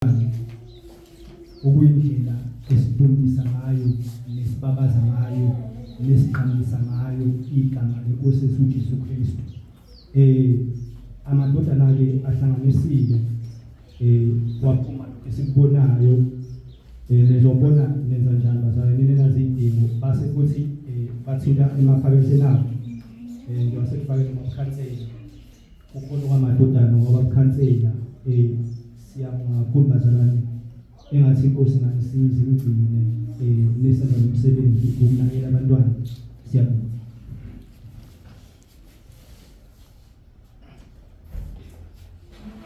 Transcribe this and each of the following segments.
ubuhlakani okuyindlela esidumisa ngayo nesibabaza ngayo nesiqhamisa ngayo igama lenkosi yethu uJesu Kristu eh amadodana ke ahlanganisile eh waphuma esikubonayo eh nezobona nenza njani bazalwane nina nazidingo base kuthi eh bathinta emaphaketheni abo eh ngiwasefakela emakhansela Ukhona kwamadodana kwabakhansela eh siyabonga kakhulu bazalwane engathi inkosi nganisiza imgcine eh nesenza umsebenzi ukunakela abantwana siyabonga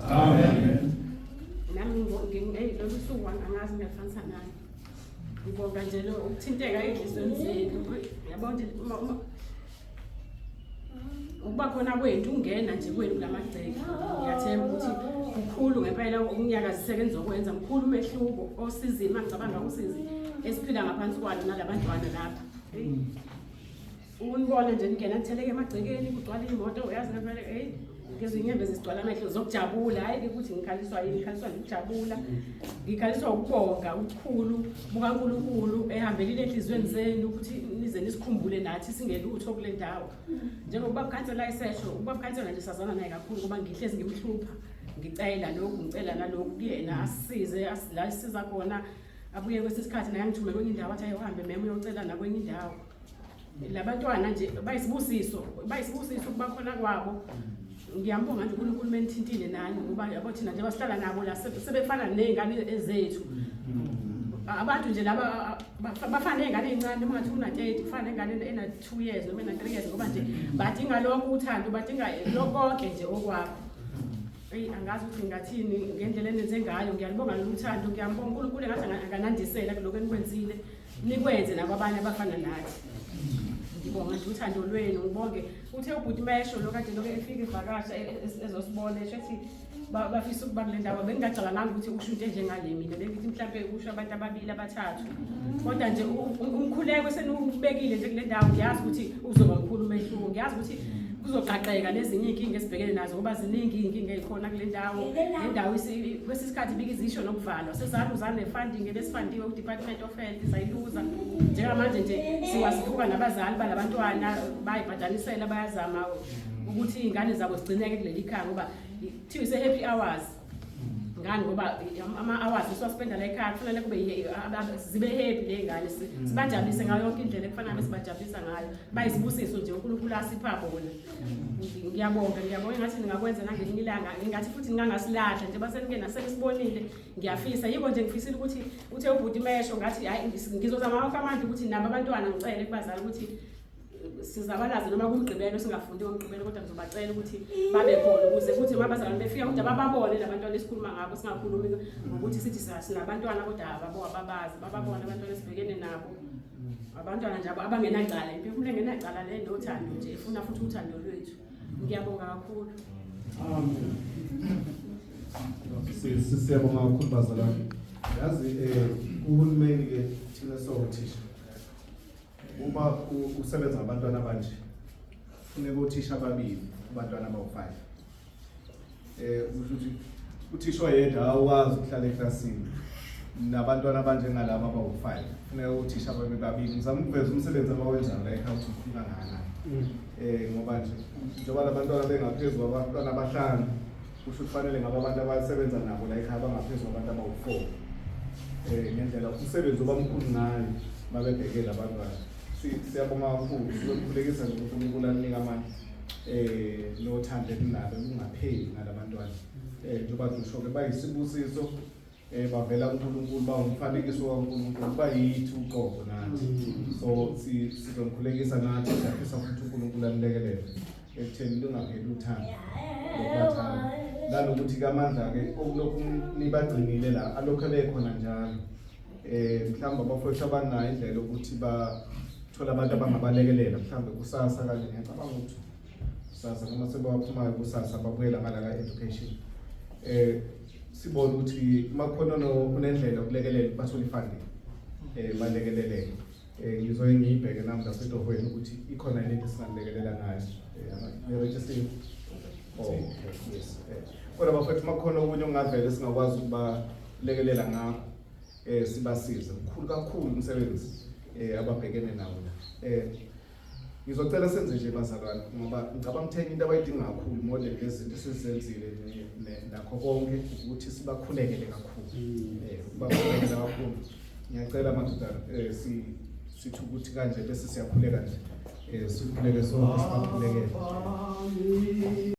Amen. Nami ngeyi lolu suku angazi ngiyafanisa nani. Ngibonga nje lo ukuthinteka enhlizweni zenu. Yabona nje uma uma ukuba khona kwethu ungena nje kwenu kulamagceke. Ngiyathemba ukuthi kukhulu ngempela ukunyakaziseka enizokwenza mkhulu umehluko osizini mangicabanga usizi esiphila ngaphansi kwalo nalabantwana lapha. Unibona nje ningena nitheleke emagcekeni kugcwala imoto uyazi ngempela hey ngizwe inyembezi zigcwala amehlo zokujabula hhayi ukuthi ngikhaliswa yini ngikhaliswa ngikujabula ngikhaliswa ukubonga ubukhulu bukankulunkulu ehambelile enhliziyweni zenu ukuthi nize nisikhumbule nathi singelutho kule ndawo njengokuba bukhansela isesho ukuba bukhansela nje sazana naye kakhulu ngoba ngihlezi ngimhlupha ngicela lokhu ngicela nalokhu kuyena asisize la sisiza khona abuye kwesinye isikhathi naye angithume kwenye indawo athi ayohambe meme uyocela nakwenye indawo labantwana nje bayisibusiso bayisibusiso ukuba khona kwabo mm. ngiyambonga nje uNkulunkulu menithintile nani ngoba yabo thina nje basihlala nabo la sebefana nezingane ezethu mm. abantu nje laba bafana nezingane ezincane uma ngathi una 30 kufana nezingane ena 2 years noma ena 3 years ngoba nje mm. badinga lokho uthando badinga lokho konke nje okwakho eyi angazi ukuthi ngingathini ngendlela enenze ngayo ngiyalibonga lolu thando ngiyambonga uNkulunkulu engathi akanandisela kuloko enikwenzile nikwenze nakwabanye abafana nathi ngibonga nje uthando lwenu ngibonge uthe ubhuti mesho lo kade loke efika ivakasha e- e- e- ezosibona esho ethi ba- bafisa ukuba kule ndawo bengingacabanganga ukuthi usho into enjengale mina bengithi mhlawumpe kusho abantu ababili abathathu kodwa nje u- u- umkhuleko seniwubekile nje kule ndawo ngiyazi ukuthi uzoba mkhulu umehluko ngiyazi ukuthi kuzoqaqeka nezinye iy'nkinga esibhekene nazo ngoba ziningi iy'nkinga ey'khona kule ndawo le ndawo isi- kwesinye isikhathi ibike izisho nokuvalwa sezaluzane funding ebesifandiwe kudepartment Girlfriend sayiluza njengamanje nje siwasifuka nabazali balabantwana bayibhadanisela bayazama ukuthi iy'ngane zabo zigcineke kuleli khaya ngoba kuthiwa ise-happy hours ngani ngoba ama-hours esiwaspenda la ekhaya kufanele kube zibe happy ley'ngane mm. sibajabulise ngayo yonke indlela ekufanele besibajabulisa ngayo bayisibusiso nje unkulunkulu asipha bona mm. ngiyabonga ngiyabonga ngathi ningakwenza nangelinye ilanga ngingathi futhi ningangasilahla njengoba senike nasenisibonile ngiyafisa yiko nje ngifisile ukuthi uthe ubhuti mesho ngathi hayi ngizozama wonke amandla ukuthi nabo abantwana ngicele kubazali ukuthi sizabalaze noma kumgqibelo singafundi komgqibelo kodwa ngizobacela ukuthi babe khona ukuze kuthi uma bazalwane befika kodwa bababone labantwana esikhuluma ngabo singakhulumi ngokuthi sithi sinabantwana kodwa ababo ababazi bababone abantwana esibhekene nabo abantwana njabo abangenacala impilo engenacala le nothando nje ifuna futhi uthando lwethu ngiyabonga kakhulu amen sisiyabonga kakhulu bazalwane yazi um uhulumeni ke thina sowothisha uma usebenza ngabantwana abanje funeka othisha ababili abantwana abawu-five eh kusho ukuthi uthisha oyedwa awukwazi ukuhlala eklasini nabantwana abanjengalaba abawu-five funeka uthisha babe babili ngizama ukuveza umsebenzi abawenzayo la ekhaya ukuthi ufika ngana um eh, ngoba nje njengoba la bantwana bengaphezu kwabantwana abahlanu kusho kufanele ngaba abantu abasebenza nabo la ekhaya bangaphezu kwabantu abawu-four um ngendlela umsebenzi oba mkhulu ngayo babebhekele abantwana siyabonga kakhulu sizokukhulekisa nje ukuthi unkulunkulu anika amandla eh nothando ekunalo kungapheli ngalabantwana eh njengoba ngisho ke bayisibusiso eh bavela kuNkulunkulu bawumfanekiso kaNkulunkulu bayithi uqobo nathi mm. so sizomkhulekisa nathi siyafisa ukuthi uNkulunkulu anilekelele ekutheni lingapheli uthando lokubathanda nanokuthi kamandla ke okulokhu nibagcinile la alokhu ebekhona njalo eh mhlawumbe abafowethu abanayo indlela yokuthi bathole abantu abangabalekelela mhlawumbe kusasa kanje ngiyacabanga ukuthi kusasa noma sebawaphumayo kusasa babuyela ngala ka-education eh sibone ukuthi uma khona unendlela yokulekelela bathole ifunding eh balekeleleke Eh, ngizoye ngiyibheke namhla setohweni ukuthi ikhona yini into esinganilekelela ngayo i-registering eh, oh, yes eh, kodwa bafethu uma kukhona okunye okungavele singakwazi ukubalekelela ngakho um sibasize mkhulu kakhulu umsebenzi um ababhekene nawo la um Ngizocela senze nje bazalwane ngoba ngicabanga ukuthi enye into abayidinga kakhulu more than lezi zinto esizenzile nakho konke ukuthi sibakhulekele kakhulu. Mm. Eh, bakhulekele kakhulu. Ngiyacela madoda eh si sithi ukuthi kanje bese siyakhuleka nje. Eh sikhuleke sonke sibakhulekele.